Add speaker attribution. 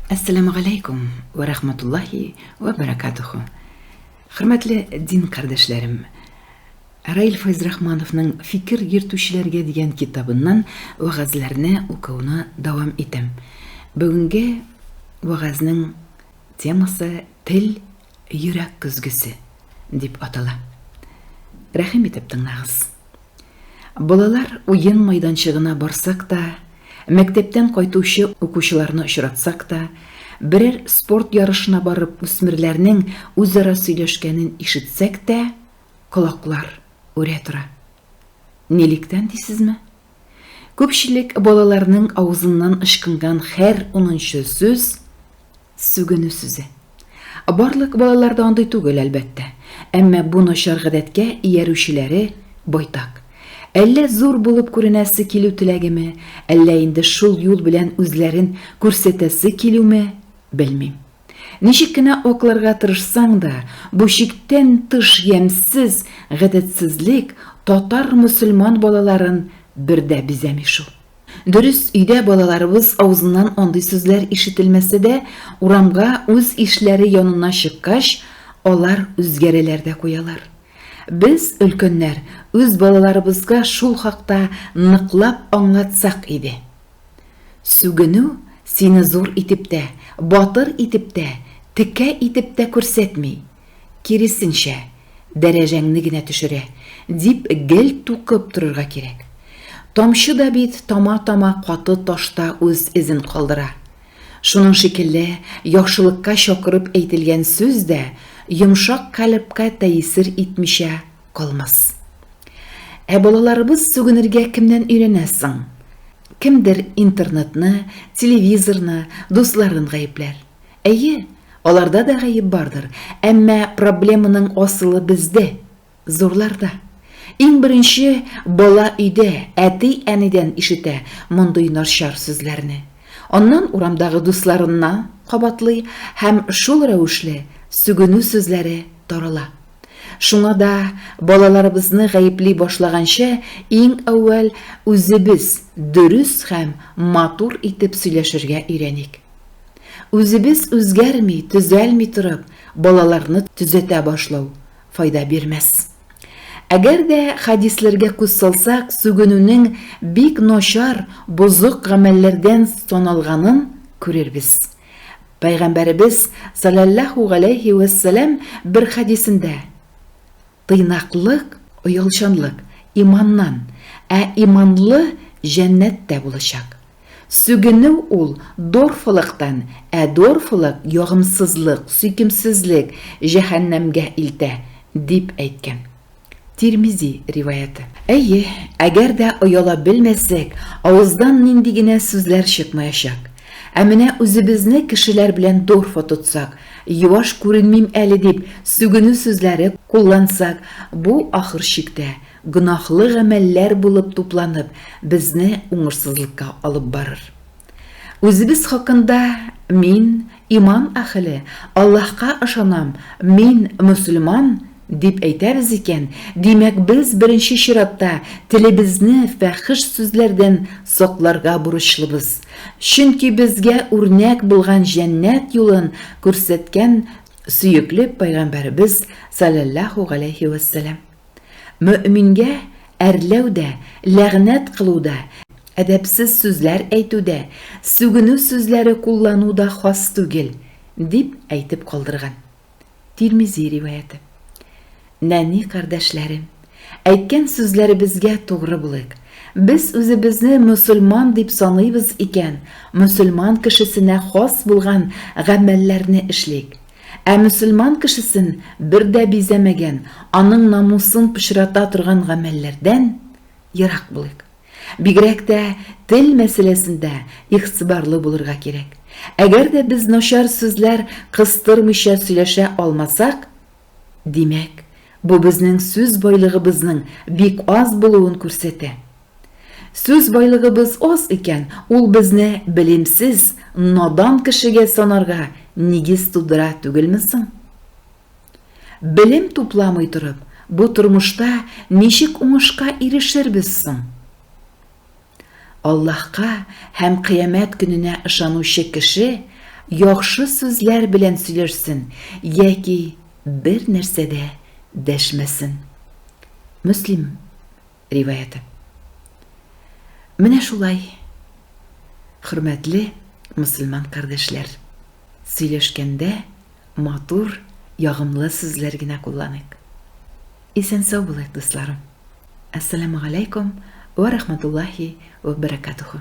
Speaker 1: Әссәламү галәйкүм вә рахматуллаһи вә бәрәкатүхү! Хөрмәтле дин кардәшләрем! Раил Фәйзрахмановның Фикер йөртүчеләргә дигән китабыннан вәгазьләрне укуны дәвам итәм. Бүгенге вәгазьнең темасы Тел Йөрәк көзгесе дип атала. Рәхим итеп тыңлагыз. Балалар уен майданчыгына барсак та, мәктәптән кайтучы укучыларны очратсак та, берәр спорт ярышына барып үсмерләрнең үзара сөйләшкәнен ишетсәк тә, колаклар үрә тора. Нилектән дисезме? Күпчелек балаларның авызыннан ычкынган хәр унынчы сүз, сүгенү сүзе. Барлык балалар да андый түгел, әлбәттә. Әмма бу начар гадәткә иярүчеләре байтак. Әллә зур булып күренәсе килү теләгеме, әллә инде шул юл белән үзләрен күрсәтәсе килүме, белмим. Ничек кенә акларга тырышсаң да, бу чиктән тыш ямьсез гадәтсезлек татар-мөселман балаларын бер дә бизәми шул. Дөрес, өйдә балаларыбыз авызыннан андый сүзләр ишетелмәсә дә, урамга үз ишләре янына чыккач, алар үзгәрәләр дә куялар. Без, өлкәннәр, үз балаларыбызга шул хакта ныклап аңлатсак иде. Сүгенү сине зур итеп тә, батыр итеп тә, текә итеп тә күрсәтми, киресенчә, дәрәҗәңне генә төшерә, дип гел тукып торырга кирәк. Тамчы да бит тама-тама каты ташта үз эзен калдыра. Шуның шикелле, яхшылыкка чакырып әйтелгән сүз дә йомшак калебка тәэсир итмичә калмас. Ә балаларыбыз сүгенергә кемнән өйрәнә соң? Кемдер интернетны, телевизорны, дусларын гаепләр. Әйе, аларда да гаеп бардыр, әмма проблеманың асылы бездә, зурларда. Иң беренче бала өйдә, әти-әнидән ишетә мондый начар сүзләрне. Аннан урамдагы дусларына кабатлый һәм шул рәвешле сүгенү сүзләре тарала. Шуңа да балаларыбызны гаепли башлаганчы, иң әүвәл үзебез дөрес һәм матур итеп сөйләшергә өйрәник. Үзебез үзгәрми, төзәлми торып, балаларны төзәтә башлау файда бирмәс. Әгәр дә хәдисләргә күз салсак, сүгенүнең бик начар, бозык гамәлләрдән саналганын күрербез. Пәйгамбәребез саләллаһу галәйһи вә сәлам бер хәдисендә, Тыйнаклык, оялчанлык, иманнан, ә иманлы җәннәттә булачак. Сүгенү ул дорфалыктан, ә дорфалык ягымсызлык, сөйкемсезлек, җәһәннәмгә илтә, дип әйткән. Тирмизи риваяте. Әйе, әгәр дә ояла белмәсәк, авыздан нинди генә сүзләр чыкмаячак. Ә менә үзебезне кешеләр белән дорфа тотсак, юаш күренмим әле дип, сүгенү сүзләре куллансак, бу, ахыр чиктә, гөнаһлы гамәлләр булып тупланып, безне уңышсызлыкка алып барыр. Үзебез хакында мин иман әхеле, Аллаһка ышанам, мин мөселман, дип әйтәбез икән, димәк, без беренче чиратта телебезне фәхеш сүзләрдән сакларга бурычлыбыз. Чөнки безгә үрнәк булган җәннәт юлын күрсәткән сөекле пәйгамбәребез саләллаһу галәйһи вәссәлам. Мөэмингә әрләү дә, ләгънәт кылу да, әдәпсез сүзләр әйтү дә, сүгенү сүзләре куллану да хас түгел, дип әйтеп калдырган. Тирмизи риваяте. Нәни кардәшләрем, әйткән сүзләребезгә тугры булыйк. Без үзебезне мөселман дип саныйбыз икән, мөселман кешесенә хас булган гамәлләрне эшлик. Ә мөселман кешесен бер дә бизәмәгән, аның намусын пычрата торган гамәлләрдән ерак булыйк. Бигрәк тә тел мәсьәләсендә игътибарлы булырга кирәк. Әгәр дә без начар сүзләр кыстырмыйча сөйләшә алмасак, димәк, бу безнең сүз байлыгыбызның бик аз булуын күрсәтә. Сүз байлыгыбыз аз икән, ул безне белимсез, надан кешегә санарга нигез тудыра түгелме соң? Белем тупламый торып, бу тормышта ничек уңышка ирешербез соң? Аллаһка һәм кыямәт көненә ышанучы кеше яхшы сүзләр белән сөйләшсен яки бер нәрсә дә дәшмәсен. Мөслим. риваяте. Менә шулай, хөрмәтле мөселман кардәшләр, сөйләшкәндә матур, ягымлы сүзләр генә кулланыйк. Исән-сау булыйк, дусларым. Әссәламү галәйкүм вә рахматуллаһи вә бәрәкатүһү.